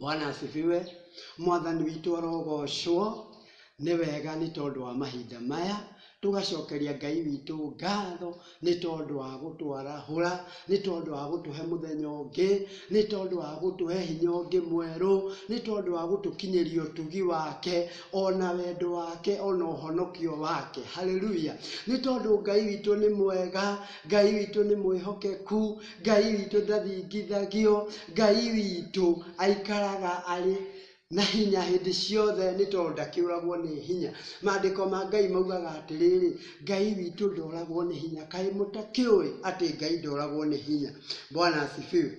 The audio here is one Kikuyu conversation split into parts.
Bwana asifiwe. Mwathani witũ arogoocwo. Nĩ wega nĩ tondũ wa mahinda maya tũgacokeria Ngai witũ ngatho nĩ tondũ wa gũtwarahũra, nĩ tondũ wa gũtũhe mũthenya ũngĩ, nĩ tondũ wa gũtũhe hinya ũngĩ mwerũ, nĩ tondũ wa gũtũkinyĩria ũtugi wake, ona wendo wake, ona ũhonokio wake. Haleluya! Nĩ tondũ Ngai witũ nĩ mwega, Ngai witũ nĩ mwĩhokeku. Ngai witũ ndathingithagio, Ngai witũ aikaraga arĩ na hinya hĩndĩ ciothe nĩ tondũ ndakĩũragwo nĩ hinya. Maandĩko ma Ngai maugaga atĩrĩrĩ, Ngai witũ ndoragwo nĩ hinya. Kaĩ mũtakĩũĩ atĩ Ngai ndoragwo nĩ hinya? Bwana asifiwe.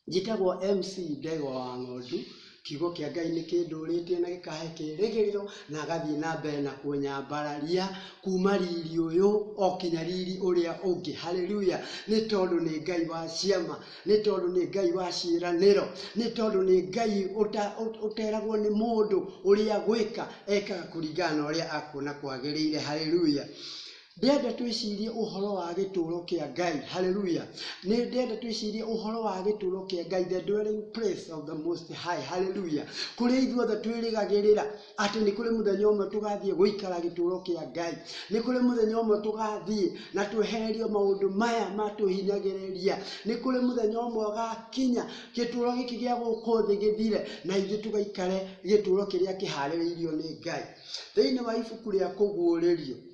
Njĩtagwo MC Ndegwa wa Ng'ondu, kiugo kĩa Ngai nĩ kĩndũrĩtie na gĩkahe kĩĩrĩgĩrĩro, na agathiĩ na mbere na kũnyambararia kuma riri ũyũ o kinya riri ũrĩa ũngĩ. Hallelujah! Nĩ tondũ nĩ Ngai wa ciama, nĩ tondũ nĩ Ngai wa ciĩranĩro, nĩ tondũ nĩ Ngai ũteragwo nĩ mũndũ ũrĩa gwĩka, ekaga kũringana na ũrĩa akuona kwagĩrĩire. Hallelujah! Ndĩrenda twĩcirie ũhoro wa gĩtũũro kĩa Ngai. Hallelujah. Nĩ ndĩrenda twĩcirie ũhoro wa gĩtũũro kĩa Ngai, the dwelling place of the most high. Hallelujah. Kũrĩa ithuothe twĩrĩgagĩrĩra atĩ nĩ kũrĩ mũthenya ũmwe tũgathiĩ gũikara gĩtũũro kĩa Ngai. Nĩ kũrĩ mũthenya ũmwe tũgathiĩ na twehererio maũndũ maya matũhinyagĩrĩria. Nĩ kũrĩ mũthenya ũmwe ũgakinya gĩtũũro gĩkĩ gĩa gũkũ thĩ gĩthire na ithuĩ tũgaikare gĩtũũro kĩrĩa kĩharĩrĩirio nĩ Ngai. Thĩinĩ wa ibuku rĩa kũguũrĩrio,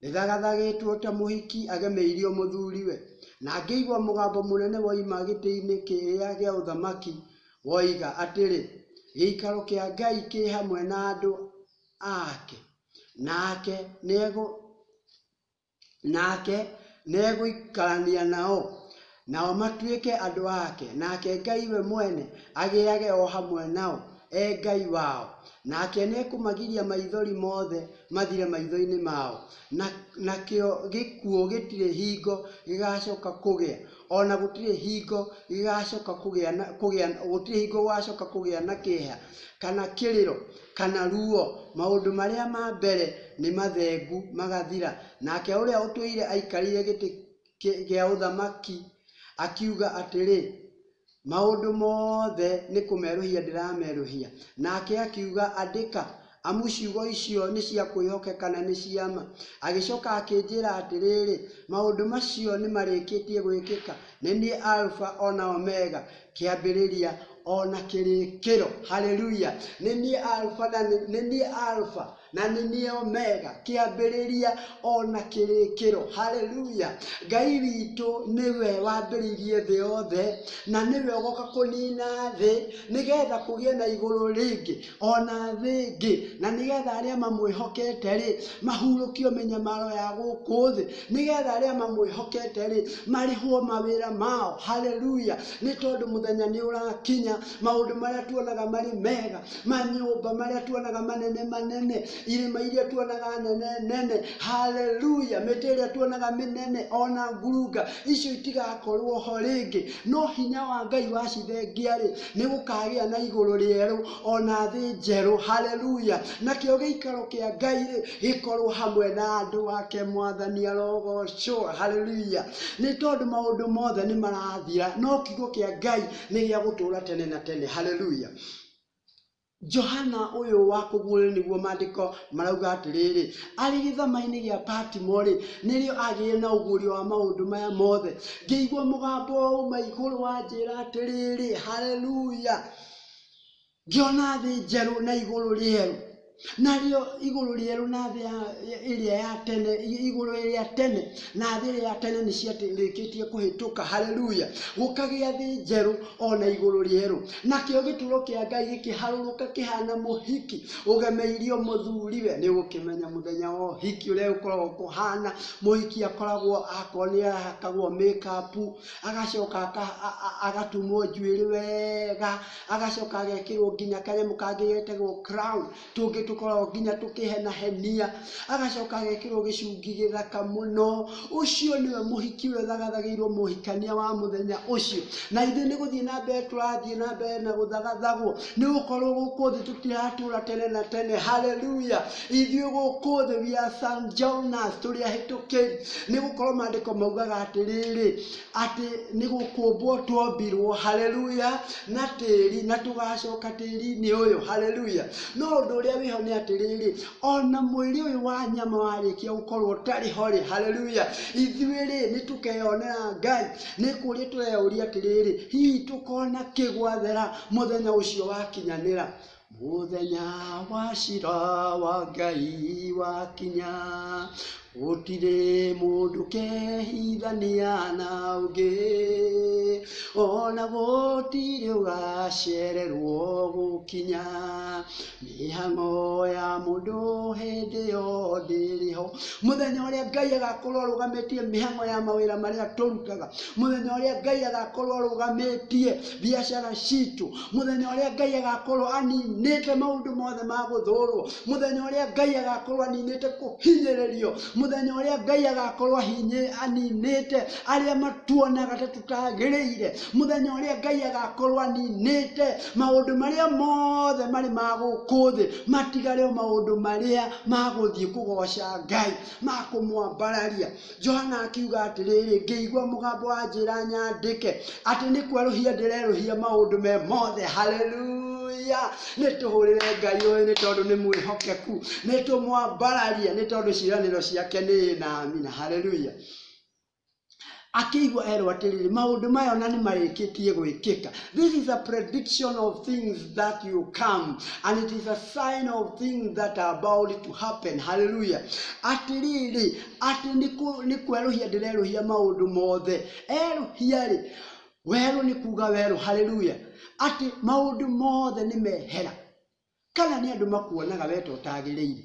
Nĩthagathagĩtwo ta mũhiki agemeirio mũthuriwe, na ngĩigua mũgambo mũnene woima gĩtĩ-inĩ kĩrĩa gĩa ũthamaki, woiga atĩrĩ, Gĩikaro kĩa Ngai kĩ hamwe na andũ ake, nake nĩegũikarania nao, Nao matuĩke andũ ake, nake Ngai we mwene agĩage o hamwe nao, e Ngai wao. Nake nĩekũmagiria maithori mothe mathire maitho-inĩ mao, na, nakĩo gĩkuũ gĩtirĩ hingo gĩgaacoka kũgĩa, o na gũtirĩ hingo gĩgaacoka kũgĩa na, kũgĩa, gũtirĩ hingo gũgaacoka kũgĩa na kĩeha, kana kĩrĩro, kana ruo, maũndũ marĩa ma mbere nĩ mathengu magathira. Nake ũrĩa ũtũire aikarĩire gĩtĩ gĩa ũthamaki, akiuga atĩrĩ, Maũndũ mothe nĩ kũmerũhia ndĩramerũhia. Nake akiuga, Andĩka, amu ciugo icio nĩ cia kwĩhokeka na nĩ cia ma. Agĩcoka akĩnjĩra atĩrĩrĩ, Maũndũ macio nĩ marĩkĩtie gwĩkĩka. Nĩ niĩ Aruba o na Omega, kĩambĩrĩria o na kĩrĩkĩro. Haleluya! Nĩ niĩ Aruba na nĩ niĩ Aruba. na nĩ niĩ omega, kĩambĩrĩria ona kĩrĩkĩro. Haleluya! Ngai witũ nĩwe wambĩrĩirie thĩ yothe, na nĩwe ũgoka kũnina thĩ, nĩgetha kũgĩe na igũrũ rĩngĩ, ona thĩ ĩngĩ, na nĩgetha arĩa mamwĩhokete-rĩ, mahurũkio mĩnyamaro ya gũkũ thĩ, nĩgetha arĩa mamwĩhokete-rĩ, marĩhwo mawĩra mao. Haleluya! Nĩ tondũ mũthenya nĩ ũrakinya, maũndũ marĩa tuonaga marĩ mega, manyũmba marĩa tuonaga manene manene irĩma iria tuonaga nene nene haleluya mĩtĩ ĩrĩa tuonaga mĩnene ona ngurunga icio itigakorwo ho rĩngĩ no hinya wa ngai wacivengia-rĩ nĩ gũkagĩa na igũrũ rĩerũ ona thĩ njerũ haleluya nakĩo gĩikaro kĩa ngai-rĩ gĩkorwo hamwe na andũ ake mwathani arogocwo haleluya nĩ tondũ maũndũ mothe nĩ marathira no kiugo kĩa ngai nĩ gĩa gũtũra tene na tene haleluya Johana ũyũ wa kũguũrĩrio nĩguo maandĩko marauga atĩrĩrĩ, arĩ gĩthamainĩ gĩa Patimo-rĩ, nĩrĩo agĩire na ũguũrio wa maũndũ maya mothe. Ngĩigua mũgambo wa uma igũrũ wanjĩra atĩrĩrĩ, Haleluya! Ngĩona thĩ njerũ na igũrũ rĩerũ. Narĩo igũrũ rĩerũ na thĩ ĩrĩa ya tene, igũrũ rĩa tene na thĩ ĩrĩa ya tene nĩ ciarĩkĩtie kũhĩtũka. Haleluya! Gũkagĩa thĩ njerũ o na igũrũ rĩerũ. Nakĩo gĩturo kĩa Ngai gĩkĩharũrũka kĩhana mũhiki ũgemeirio mũthuriwe. Nĩ ũgũkĩmenya mũthenya wa ũhiki ũrĩa ũkoragwo kũhana. Mũhiki akoragwo akorwo nĩ ahakagwo make up, agacoka agatumwo njuĩrĩ wega, agacoka agekĩrwo nginya kanyamũ kangĩ getagwo crown tũngĩ tũkoragwo nginya tũkĩhenahenia agacoka agekĩrwo gĩcungi gĩthaka mũno ũcio nĩwe mũhiki ũrĩa ũthagathagĩirwo mũhikania wa mũthenya ũcio na ithuĩ nĩ gũthiĩ na mbere tũrathiĩ na mbere na gũthagathagwo nĩ gũkorwo gũkũ thĩ tũtiratũra tene na tene haleluya ithuĩ gũkũ thĩ we are St. Jonas tũrĩ ahĩtũkĩri nĩ gũkorwo maandĩko maugaga atĩrĩrĩ atĩ nĩ gũkũmbwo twombirwo haleluya na tĩri na tũgacoka tĩri-inĩ ũyũ haleluya no ũndũ ũrĩa wĩho nĩ atĩrĩrĩ ona mwĩrĩ ũyũ wa nyama warĩkia gũkorwo ũtarĩ ho rĩ haleluya ithuĩ rĩ nĩ tũkeyonera ngai nĩ kũrĩa tũreyũria atĩrĩrĩ hihi tũkona kĩgwathera mũthenya ũcio wakinyanĩra Mũthenya wa cira wa Ngai wakinya, gũtirĩ mũndũ kehithania na ũngĩ, ona gũtirĩ ũgacererwo gũkinya. Mĩhang'o ya mũndũ hĩndĩ ĩyo ndĩrĩ ho. Mũthenya ũrĩa Ngai agakorwo arũgamĩtie mĩhang'o ya mawĩra marĩa tũrutaga, mũthenya ũrĩa Ngai agakorwo arũgamĩtie biacara citũ, mũthenya ũrĩa ngai agakorwo aninĩte maũndũ mothe ma gũthũrwo mũthenya ũrĩa ngai agakorwo aninĩte kũhinyĩrĩrio mũthenya ũrĩa ngai agakorwo ahinyĩ- aninĩte arĩa matuonaga ta tũtagĩrĩire mũthenya ũrĩa ngai agakorwo aninĩte maũndũ marĩa mothe marĩ ma gũkũ thĩ matigare o maũndũ marĩa magũthiĩ kũgoca ngai ma kũmwambararia Johana akiuga atĩrĩrĩ, ngĩigua mũgambo wanjĩra nyandĩke, atĩ nĩ kwerũhia ndĩrerũhia maũndũ me mothe. Haleluya! Nĩ tũhũrĩre Ngai ũyũ nĩ tondũ nĩ mwĩhokeku, nĩ tũmwambararie nĩ tondũ ciĩranĩro ciake nĩ na amina. Haleluya! akĩigua erwo atĩrĩrĩ maũndũ maya ona nĩ marĩkĩtie gwĩkĩka this is a prediction of things that you come and it is a sign of things that are about to happen hallelujah atĩrĩrĩ Atĩ nĩ kwerũhia ndĩrerũhia maũndũ mothe. Erũhia-rĩ, werũ nĩ kuuga werũ, hallelujah, atĩ maũndũ mothe nĩ mehera. Kana nĩ andũ makuonaga we ta ũtagĩrĩire,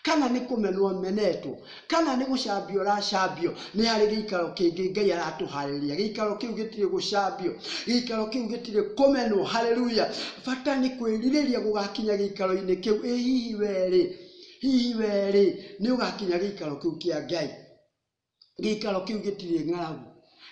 kana nĩ kũmenwo ũmenetwo, kana nĩ gũcambio ũracambio, nĩ harĩ gĩikaro kĩngĩ Ngai aratũharĩria. Gĩikaro kĩu gĩtirĩ gũcambio, gĩikaro kĩu gĩtirĩ kũmenwo, hallelujah. Bata nĩ kwĩrirĩria gũgakinya gĩikaro-inĩ kĩu. Ĩ hihi we-rĩ, Hihi wee-rĩ, nĩ ũgakinya gĩikaro kĩu kĩa Ngai? Gĩikaro kĩu gĩtirĩ ng'aragu.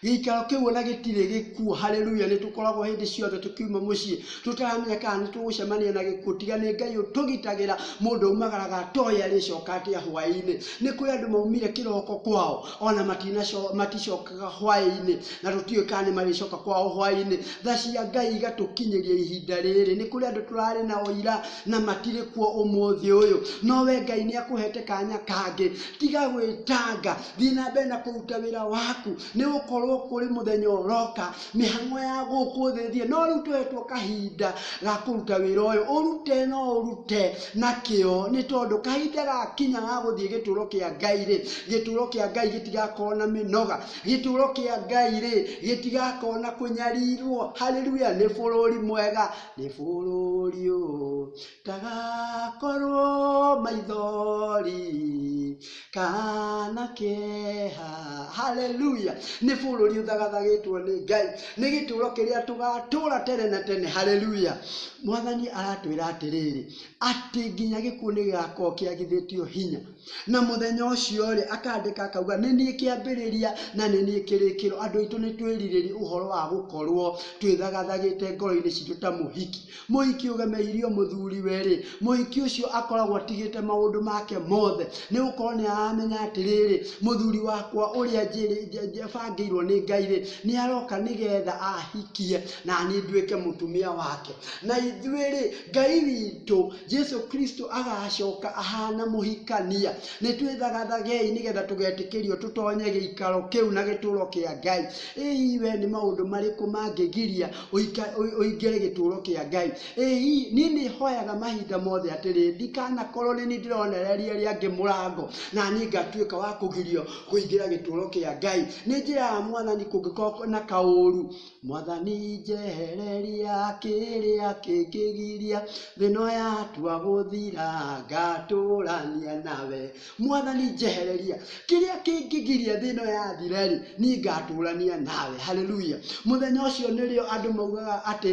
Gĩikaro kĩu ona gĩtirĩ gĩkuũ. Haleluya! Nĩ tũkoragwo hĩndĩ ciothe tũkiuma mũciĩ tũtaramenya kana nĩ tũgũcemania na gĩkuũ. Tiga nĩ Ngai ũtũgitagĩra, mũndũ aumagaraga atoĩ arĩcoka atĩa hwaĩ-inĩ. Nĩ kũrĩ andũ maumire kĩroko kwao ona matinaco- maticokaga hwaĩ-inĩ na tũtiũĩ kana nĩ marĩcoka kwao hwaĩ-inĩ. Tha cia Ngai igatũkinyĩria ihinda rĩrĩ. Nĩ kũrĩ andũ tũrarĩ nao ira na matirĩ kuo ũmũthĩ ũyũ no we ngai nĩ akũhete kanya kangĩ tiga gwĩtanga thiĩ na mbere na kũruta wĩra waku nĩ gũkorwo kũrĩ mũthenya ũroka mĩhang'o ya gũkũ thĩ thiĩ no rĩu tũhetwo kahinda ga kũruta wĩra ũyũ ũrute no ũrute na kĩo nĩ tondũ kahinda gakinya ga gũthiĩ gĩtũũro kĩa ngai rĩ gĩtũũro kĩa ngai gĩtigakorwo na mĩnoga gĩtũũro kĩa ngai rĩ gĩtigakorwo na kũnyarirwo haleluya nĩ bũrũri mwega nĩ bũrũri ũ kagakorwo maithori kana keha haleluya nĩ bũrũri ũthagathagĩtwo nĩ ngai nĩ gĩtũũro kĩrĩa tũgatũũra tene na tene haleluya mwathani aratwĩra atĩrĩrĩ atĩ nginya gĩkuũ nĩ gĩgakorwo kĩagithĩtio hinya Na mũthenya ũcio-rĩ, akandĩka akauga, nĩ niĩ kĩambĩrĩria na nĩ niĩ kĩrĩkĩro. Andũ aitũ nĩ twĩrirĩria ũhoro wa gũkorwo twĩthagathagĩte ngoro-inĩ citũ ta mũhiki. Mũhiki ũgemeirio mũthuriwe-rĩ, mũhiki ũcio akoragwo atigĩte maũndũ make mothe, nĩ gũkorwo nĩ aramenya atĩrĩrĩ, mũthuri wakwa ũrĩa bangĩirwo nĩ Ngai-rĩ, nĩ aroka nĩgetha ahikie, naniĩ nduĩke mũtumia wake. Na ithuĩ-rĩ, Ngai witũ Jesu Kristo agacoka ahana mũhikania. Nĩ twĩthagathagei nĩgetha tũgetĩkĩrio tũtonye gĩikaro kĩu na gĩtũũro kĩa Ngai. Ĩĩ we nĩ maũndũ marĩkũ mangĩgiria ũika- ũi- ũingĩre gĩtũũro kĩa Ngai? Ĩĩ niĩ nĩ hoyaga mahinda mothe atĩrĩ, ndikanakorwo nĩ niĩ ndĩronereria arĩa angĩ mũrango na niĩ ngatuĩka wa kũgirio kũingĩra gĩtũũro kĩa Ngai. Nĩ njĩra ya mwathani kũngĩkorwo na kaũũru Mwathani njehereria kĩrĩa kĩngĩgiria, thĩ ĩno yatua gũthira ngatũrania nawe. Mwathani njehereria kĩrĩa kĩngĩgiria thĩ ĩno yathira rĩ, niĩ ngatũrania nawe. Hallelujah. Mũthenya ũcio nĩrĩo andũ maugaga atĩ,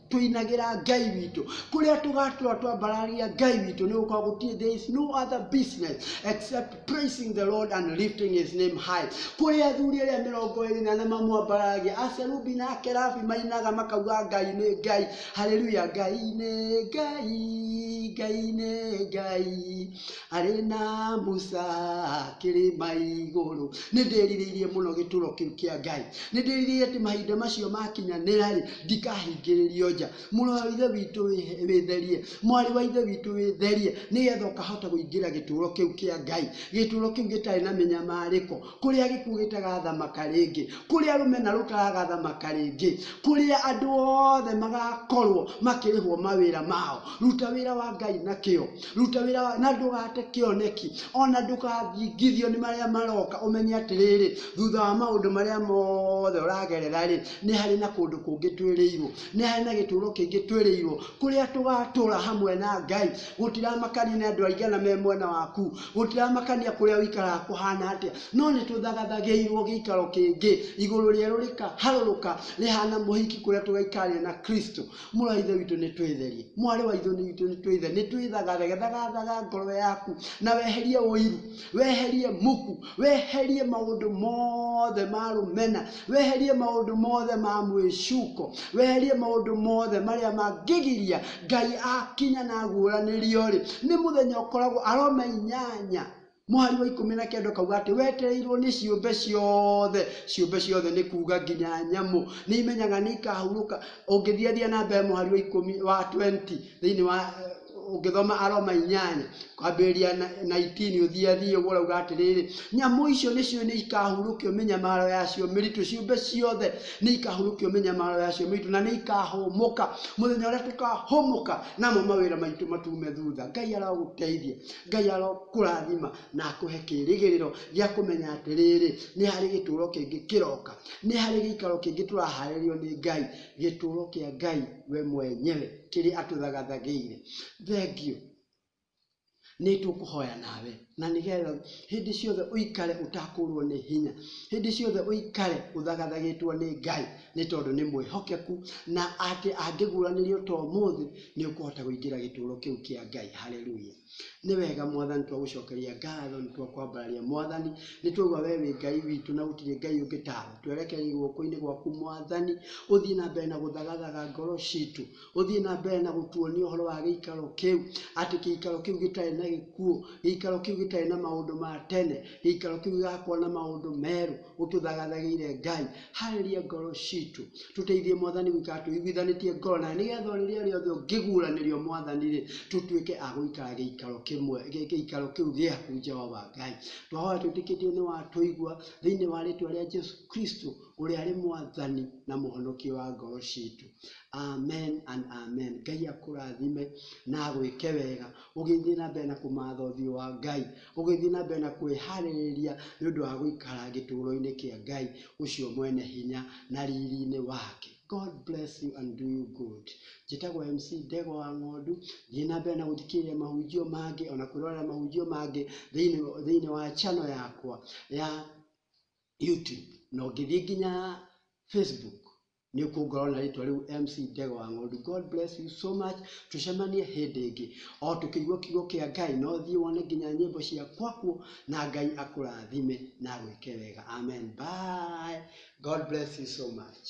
tũinagĩra ngai witũ kũrĩa tũgatũra twambararia ngai witũ nĩ gũkorwo gũtirĩ there is no other business except praising the lord and lifting his name high kũrĩa athuri arĩa mĩrongo ĩrĩ na na mamwambaragia aserubi na akerabi mainaga makauga ngai nĩ ngai haleluya ngai nĩ ngai ngai nĩ ngai Arĩ na Musa kĩrĩma igũrũ. Nĩ ndĩrirĩirie mũno gĩtũro kĩu kĩa Ngai. Nĩ ndĩrirĩirie atĩ mahinda macio makinyanĩra-rĩ, ndikahingĩrĩrio nja. Mũrũ wa Ithe witũ wĩtherie, mwarĩ wa Ithe witũ wĩtherie, nĩgetha ũkahota kũingĩra gĩtũro kĩu kĩa Ngai, gĩtũro kĩu gĩtarĩ na mĩnyamarĩko, kũrĩa gĩkuũ gĩtagathamaka rĩngĩ kũrĩa rũmena rũtaragathamaka rĩngĩ kũrĩa andũ othe magakorwo makĩrĩhwo mawĩra mao ruta wĩra wa ngai na kĩo ruta wĩra wa na ndũgate kĩoneki ona ndũkathingithio nĩ marĩa maroka ũmenye atĩrĩrĩ thutha wa maũndũ marĩa mothe ũragerera rĩ nĩ harĩ na kũndũ kũngĩ twĩrĩirwo nĩ harĩ na gĩtũũro kĩngĩ twĩrĩirwo kũrĩa tũgatũra hamwe na ngai gũtiramakanie nĩ andũ aigana me mwena waku gũtiramakania kũrĩa ũikaraga kũhana atĩa no nĩ tũthagathagĩirwo gĩikaro kĩngĩ igũrũ rĩerũ rĩkaharũrũka rĩhana mũhiki kũrĩa tũgaikarĩra na kristo mũrũ wa ithe witũ nĩ twĩtherie mwarĩ wa ithe witũ nĩ twĩthe nĩ twĩthagathaga thagathaga ngoro yaku na weherie ũiru weherie muku weherie maũndũ mothe ma rũmena weherie maũndũ mothe ma mwĩcuko weherie maũndũ mothe marĩa mangĩgiria ngai akinya na aguũranĩrio rĩ nĩ mũthenya ũkoragwo aroma inyanya mũhari wa ikũmi na kenda ũkauga atĩ wetereirwo nĩ ciũmbe ciothe ciũmbe ciothe nĩ kuuga nginya nyamũ nĩ imenyaga nĩ ikahurũka ũngĩthiathia na mbere mũhari wa ikũmi wa 20 thĩinĩ wa ũngĩthoma Aroma inyanya, kwambĩrĩria na, na itini ũthiĩ athiĩ ũguo ũrauga atĩrĩrĩ, nyamũ icio nĩcio nĩ ikahurũkio mĩnyamaro yacio mĩritũ, ciũmbe ciothe nĩ ikahurũkio mĩnyamaro yacio mĩritũ, na nĩ ikahũmũka mũthenya ũrĩa tũkahũmũka, namo mawĩra maitũ matume thutha. Ngai arogũteithia, Ngai arokũrathima na akũhe kĩrĩgĩrĩro gĩa kũmenya atĩrĩrĩ, nĩ harĩ gĩtũũro kĩngĩ kĩroka, nĩ harĩ gĩikaro kĩngĩ tũraharĩrĩrio nĩ Ngai, gĩtũũro kĩa Ngai we mwenyewe. kĩrĩa atũthagathagĩire. Thengiũ nĩ tũkũhoya nawe na nĩgetha hĩndĩ ciothe ũikare ũtakũrwo nĩ hinya hĩndĩ ciothe ũikare ũthagathagĩtwo nĩ ngai nĩ tondũ nĩ mwĩhokeku na atĩ angĩguranĩrio to mũthĩ nĩ ũkũhota kũingĩra gĩtũũro kĩu kĩa ngai haleluya Nĩ wega mwathani twagũcokeria ngatho nĩ twakwambararia mwathani nĩ twaigua we wĩ ngai witũ na gũtirĩ ngai ũngĩ tawe twerekeire guoko-inĩ gwaku mwathani ũthiĩ na mbere na gũthagathaga ngoro citũ ũthiĩ na mbere na gũtuonia ũhoro wa gĩikaro kĩu atĩ gĩikaro kĩu gĩtarĩ na gĩkuũ gĩikaro kĩu gĩtarĩ na maũndũ ma tene gĩikaro kĩu gĩgakorwo na maũndũ merũ ũtũthagathagĩire ngai harĩria ngoro citũ tũteithie mwathani gũikara tũiguithanĩtie ngoro nawe nĩgetha o rĩrĩa rĩothe ũngĩguũranĩrio mwathani rĩ tũtuĩke a gũikara gĩikaro kĩmwe gĩ- gĩikaro kĩu gĩaku jehova ngai twahoya twĩtĩkĩtie nĩ watũigua thĩinĩ wa rĩtwa rĩa jesu kristo ũrĩa arĩ mwathani na mũhonokia wa ngoro citũ amen and amen ngai akũrathime na agwĩke wega ũgĩthiĩ na mbere na kũmatha ũthiũ wa Ngai, ũgĩthiĩ na mbere na kwĩharĩrĩria nĩ ũndũ wa gũikara gĩtũũro-inĩ kĩa Ngai ũcio mwene hinya na riri-inĩ wake. God bless you and do you good. Njĩtagwo MC Ndegwa wa Ng'ondu, thiĩ na mbere na gũthikĩrĩria mahunjio mangĩ ona kwĩrorera mahunjio mangĩ thĩinĩ thĩinĩ wa channel yakwa ya YouTube na ũngĩthiĩ nginya Facebook nĩ kuongerwo na rĩtwa rĩu MC Ndegwa wa Ng'ondu. God bless you so much. Tũcemanie hĩndĩ ĩngĩ. O tũkĩigua kiugo kĩa Ngai no thiĩ wone nginya nyĩmbo cia kwakuo na Ngai akũrathime na agwĩke wega. Amen. Bye. God bless you so much.